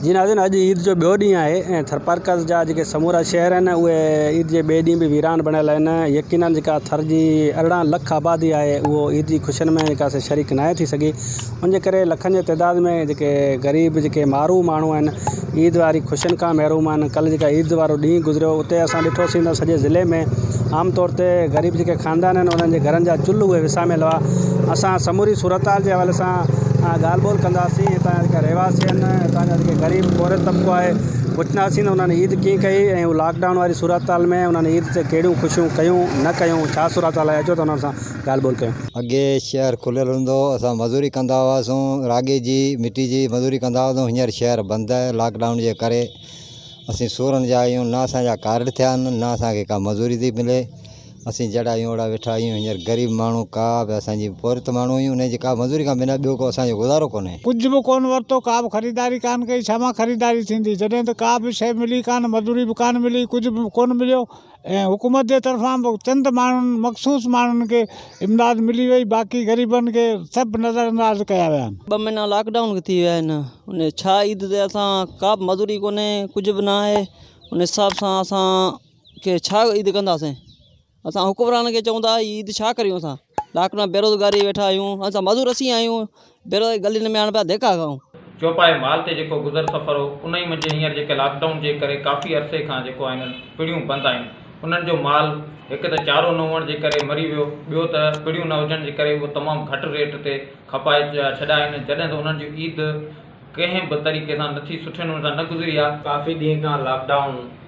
جي ناظرين اڄ عيد جو ٻيو ڏينهن آهي ۽ ٿرپارڪر جا جيڪي سمورا شهر آهن اهي عيد جي ٻئي ڏينهن به ويران بڻيل آهن يقينا جيڪا ٿر جي ارڙهن لک آبادي آهي اهو عيد جي خوشين ۾ جيڪا سي شريڪ ناهي ٿي سگهي ان جي ڪري لکن جي تعداد ۾ جيڪي غريب جيڪي مارو ماڻهو آهن عيد واري خوشين کان محروم آهن ڪلهه جيڪا عيد وارو ڏينهن گذريو اتي اسان ڏٺوسين ته سڄي ضلعي ۾ عام طور تي غريب جيڪي خاندان آهن انهن جي گهرن جا چلهه اهي وساميل هئا اسان سموري صورتحال جي حوالي سان ڳالهه ٻولهه ڪنداسين هتان جا جيڪا رهواسي آهن هتان جا جيڪي غريب پورهيت طبقو آهي پڇنداسين ته انهن عيد ڪيئن ڪئي ۽ هو لاڪ ڊائون واري صورتحال ۾ انهن عيد تي ڪهڙيون خوشيون ڪيون نه ڪيون ڇا صورتحال آهي اچو ته انهن سان ڳالهه ٻولهه ڪيون. اڳي شهر کليل هوندو هو، اسان مزوري ڪندا هئاسون، راڳي جي، مٽي جي مزوري ڪندا هئاسون، هينئر شهر بند آهي لاڪ ڊائون جي ڪري اسين سورن جا آهيون، نه اسان جا ڪارڊ ٿيا آهن، نه اسان کي ڪا مزوري ٿي ملي، اسين جهڙا آهيون اهڙا ويٺا آهيون، هينئر غريب ماڻهو ڪا به اسان جي پورهيت ماڻهو آهيون، انهيء جي ڪا مزوري کان بنا ٻيو ڪو اسان جو گذارو ڪونهي. ڪجهه به ڪونه ورتو، ڪا به خريداري ڪانه ڪئي، ڇا مان خريداري ٿيندي، جڏهن ته ڪا به شيء ملي ڪانه، مزوري به ڪانه ملي، ڪجهه به ڪونه مليو، ۽ حڪومت جي طرفان به چند ماڻهن مخصوص ماڻهن کي امداد ملي وئي باقي غريبن کي سڀ نظر انداز ڪيا ويا آهن. ٻه مهينا لاڪ ڊائون ٿي ويا آهن ان ڇا عيد تي اسان ڪا به مزوري ڪونهي ڪجهه به ناهي ان حساب سان اسان کي ڇا عيد ڪنداسين اسان حڪمران کي چون ٿا عيد ڇا ڪريون اسان لاڪ ڊائون بيروزگاري ويٺا آهيون اسان مزور اسين آهيون ڀيرو اهي گلين ۾ هاڻ پيا ڌيڪا کائون. چوپائي مال تي جيڪو گذر سفر هو انهي منجهه هينئر جيڪي لاڪ ڊائون جي ڪري ڪافي عرصي کان جيڪو آهن پڙيون بند آهن انهن جو مال هڪ ته چارو نه هئڻ جي ڪري مري ويو ٻيو ته پڙيون نه هجڻ جي ڪري اهو تمام گهٽ ريٽ تي کپائي ڇڏيا آهن جڏهن ته انهن جون عيد ڪنهن به طريقي سان نٿي سٺي نموني سان نه گذري آ. ڪافي ڏينهن کان لاڪ ڊائون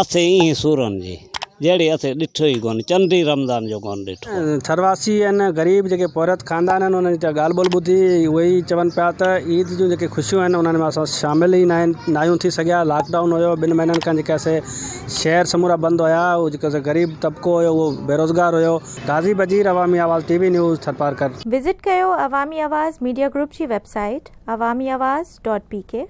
اسين ايئن سورن جي جهڙي اسين ڏٺو ئي ڪونه چنڊ ئي رمضان جو ڪونه ڏٺو آهي. ٿرواسي ۽ غريب جيڪي پورهيت خاندان آهن انهن جي جا ڳالهه ٻولهه ٻڌي اهي ئي چون پيا ته عيد جون جيڪي خوشيون آهن انهن ۾ اسان شامل ئي ناهن ناهيون ٿي سگهيا لاڪ ڊائون هيو ٻن مهينن کان جيڪي اسي شهر سمورا بند هيا اهو جيڪو اسي غريب طبقو هيو اهو بيروزگار هيو. غازي Bajeer Awami Awaz T V news Tharparkar. Visit ڪيو عوامي آواز ميڊيا گروپ جي website Awami Awaz dot P ڪي.